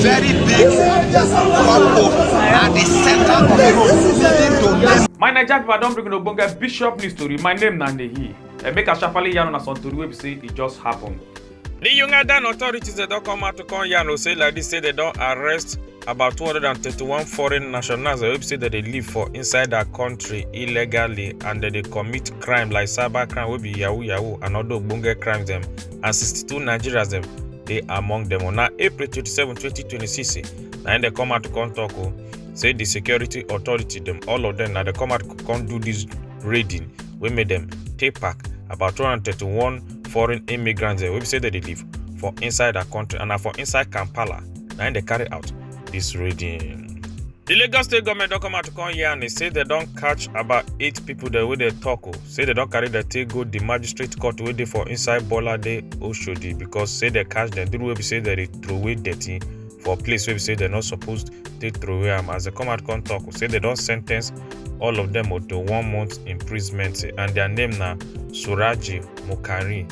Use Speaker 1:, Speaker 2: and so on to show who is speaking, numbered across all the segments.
Speaker 1: very big couple at the center of the road leading to Lagos. my naija pipo i don bring una ogbonge bishop news tori my name na nehi and make i sharparly yarn una some tori wey be say e just happen. di ugandan authorities dem don come out to come yarn o say like dis say dem don arrest about 231 foreign nationals wey be say dem dey live for inside dia kontri illegally and dem dey commit crime like cyber crime wey be yahoo yahoo and oda ogbonge crimes dem and 62 nigerians dem dey among dem on april 27 2026 na im dem come out to come tok o say di security authority dem all of dem na dem come out to come do dis raiding wey make dem take back about 231 foreign immigrants wey be say dem dey live for inside our country and na for inside kampala na im dem carry out dis raiding. di lagos state goment don come out to come yarn say dem don catch about eight pipo dem wey dem tok o say dem don carry dem take go di magistrate court wey dey for inside bolade oshodi because say dem catch dem during wey be say dem dey throway dirty for place wey be say dem no suppose take throway am as dem come out come talk say dem don sen ten ce all of dem to one month imprisonment and their name na suraji mukari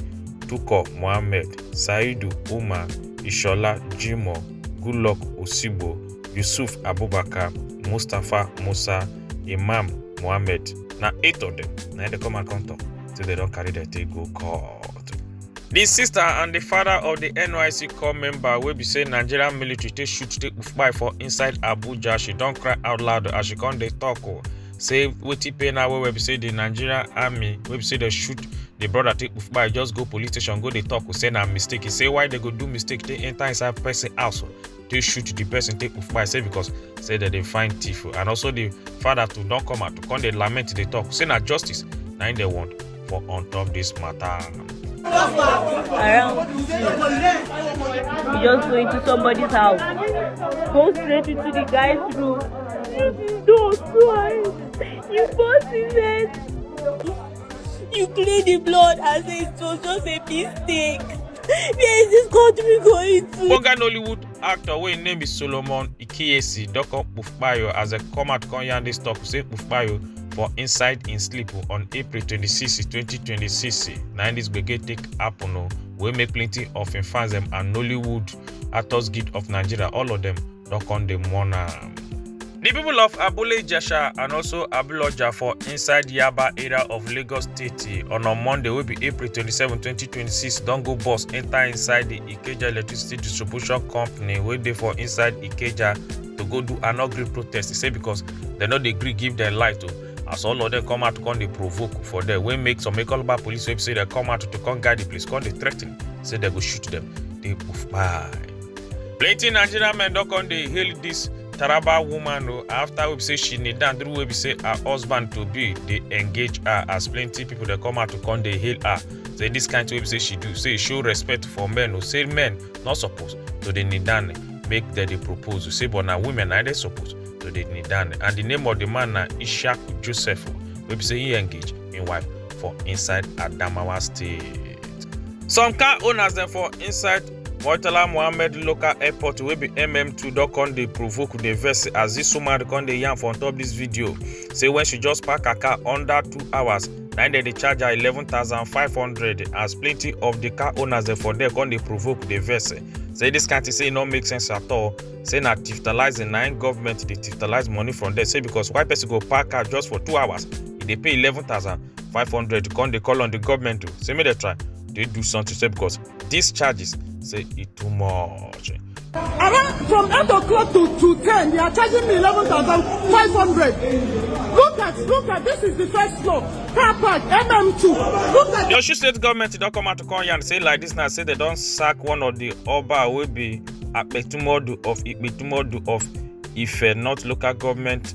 Speaker 1: tuko mohammed saidu umar ishola jimoh goodluck osigbo yusuf abubakar mustapha musa imam mohammed na eight of them na dey come out come talk say they don carry their take go court. The sister and the father of the NYC core member wey be say Nigerian military take shoot take kpai for inside Abuja, she don cry out loud as she come dey talk o. Say wetin pain her well well be say the Nigerian army wey be say dey shoot the brother take kpai just go police station go dey talk o say na mistake. He say why they go do mistake take enter inside person house o dey shoot the person take kpai say because say dem dey find thief and also the father too don come out to come dey lament dey talk say na justice na im dem want for on top this matter. around you just go into somebody's house go straight into the guy's room you don't twice you burst his head You clean the blood as if it was just a mistake. Where is this country going to? Oga Nollywood actor wey im name is Solomon Ikiyesi don come Kpufkpayo as dem come out come yarn dis talk say Kpufkpayo for inside im sleep on April 26, 2026 na im dis gbege take happen o wey make plenty of im fans dem and Nollywood actors guild of Nigeria all of dem don come dey mourn am. Di pipo of Abule Ijesha and also Abuloja for inside Yaba area of Lagos State on on Monday wey be April 27, 2026 don go bus enta inside di Ikeja Electricity Distribution Company wey dey for inside Ikeja to go do an ugly protest e say because dem no dey gree give dem light o as all of dem come out come dey provoke for there wey make some Ekoloba police wey be say dem come out to come guide di place come dey threaten say dem go shoot dem dey kpai. plenty nigerian men don come dey hail dis taraba woman o after wey be say she kneel down during wey be say her husband to be dey engage her as plenty people dey come out to come dey hail her say dis kind thing wey be say she do say e show respect for men o say men no suppose to dey kneel down make dem dey propose o say but na women na dem suppose to dey kneel down and the name of the man na ishaq joseph o wey be say he engage im wife for inside adamawa state. some car owners dem for inside murtala mohammed local airport wey be mm2 don come dey provoke dey vex as dis woman come dey yarn for on top dis video say wen she just park her car under two hours na im dem dey charge her 11500 as plenty of di car owners dem for there come dey provoke dey vex say dis kind thing say e no make sense at all say na tifitalizing na im government dey tifitalize money from there say because why person go park car just for two hours e dey pay 11500 come dey call on di government o say make dem try dey do something say because These charges say e too much. Around from 8 o'clock to, to 10, they are charging me 11,500. Look at, look at, this is the first floor. Car park, MM2. Look at. The Osun State government don come out to come yarn say like this now, say they don sack one of the Oba wey be Apetumodu of Ipetumodu of Ife, not local government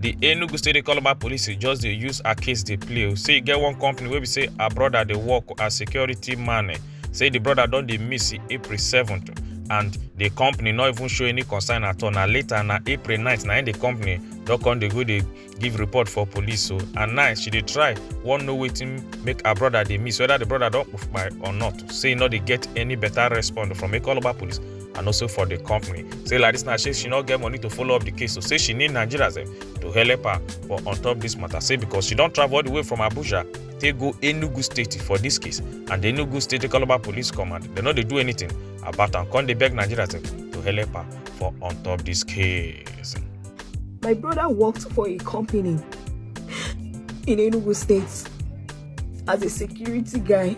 Speaker 1: di enugu state dey call about police just dey use her case dey play o say e get one company wey be say her brother dey work as security man eh, say di brother don dey miss april 7th and di company no even show any concern at all na later na april 9th na im di company don come dey go dey give report for police o and now she dey try wan know wetin make her brother dey miss whether di brother don kpai or not say e no dey get any better response from ekoloba police and also for di company say like dis na say she no get money to follow up di case so say she need nigerians eh, to help her for on top dis matter say because she don travel all di way from abuja take go enugu state for dis case and di enugu state calabar police command dem no dey do anything about am come dey beg nigerians eh, to help her for on top dis case. My brother worked for a company in Enugu State. as a security guy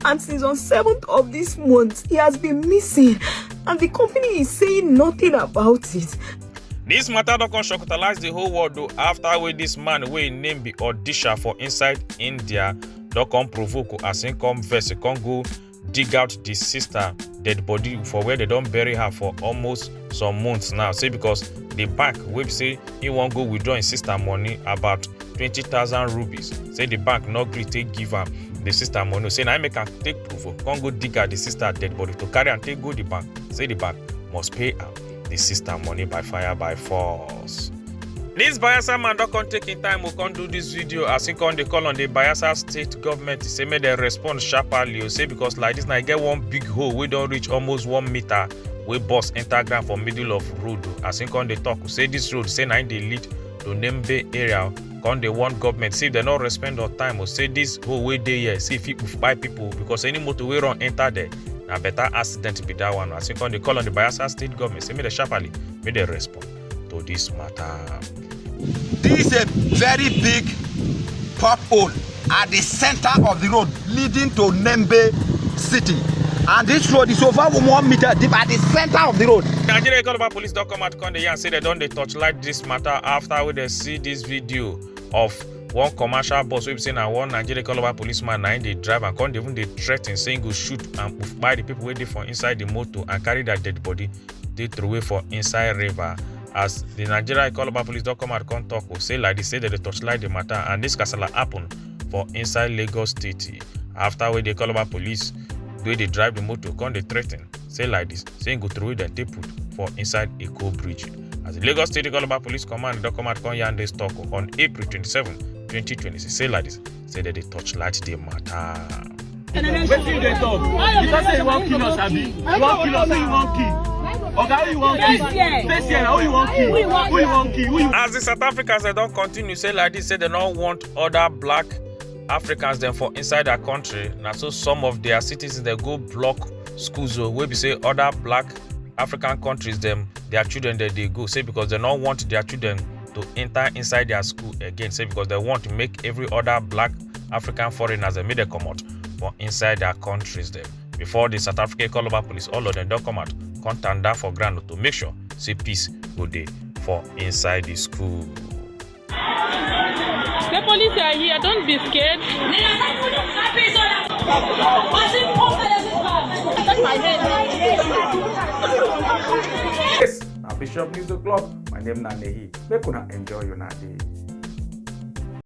Speaker 1: and since on 7th of this month he has been missing and the company is saying nothing about it This matter don come shocktalize the whole world o after wey this man wey im name be Odisha for inside India don come provoke as im come vex e come go dig out di sister dead body for where dem don bury her for almost some months now say because di bank wey be say he wan go withdraw im sister money about 20000 rupees say di bank no gree take give am di sister money say na im make am take provo come go dig out di sister dead body to carry am take go di bank say di bank must pay am the sister money by fire by force. This Bayelsa man don come take im time o come do this video as he come dey call on the Bayelsa state government say make dem respond sharply o say because like this na e get one big hole wey don reach almost one meter wey burst enter ground for middle of road o as he come dey talk say this road say na im dey lead to Nembe area come dey warn government say if dem no respect on time or say this hole wey dey here say e fit kpai people because any motor wey run enter there na better accident be that one as you come dey call on the bayelsa state government say make dem sharply make dem respond to this matter. This is a very big pothole at the center of the road leading to Nembe city. And this road is over one meter deep at the center of the road. Nigeria Economic Police don come out come dey yarn say dem don dey torchlight this matter after wey dem see dis video of one commercial bus wey be say na one nigeria calabar policeman na im dey drive and come dey even dey threaten say im go shoot and kpai the people wey dey for inside the motor and carry their dead body dey throway for inside river as the nigeria calabar police don come out come talk o say like the say dem dey torchlight the matter and this kasala happen for inside lagos state after wey the calabar police wey dey drive the motor come dey threaten say like this say im go throway dem take put for inside eko bridge. as di lagos state calabar police command don come out come yarn dis tok on april 27 2026 say like dis say dem dey torchlight di matter. wetin you dey talk you talk say you wan kill us abi you wan kill us who you wan kill oga who you wan kill face here na who you wan kill who you wan kill who you. as di south africans dem don continue say like dis say dem no want oda black africans dem for inside dia kontri na so some of dia citizens dem go block schools o wey be say oda black african countries dem their children dem dey go say because dem no want their children to enter inside their school again say because dem want make every other black african foreigners dem make dem comot for inside their countries dem before the south african columbus police all of them don come out come tanda for ground to make sure say peace go dey for inside the school. The police are here, don't be scared. Yes, na Bishop News O'Clock. My name na Nehi. Make una enjoy una day.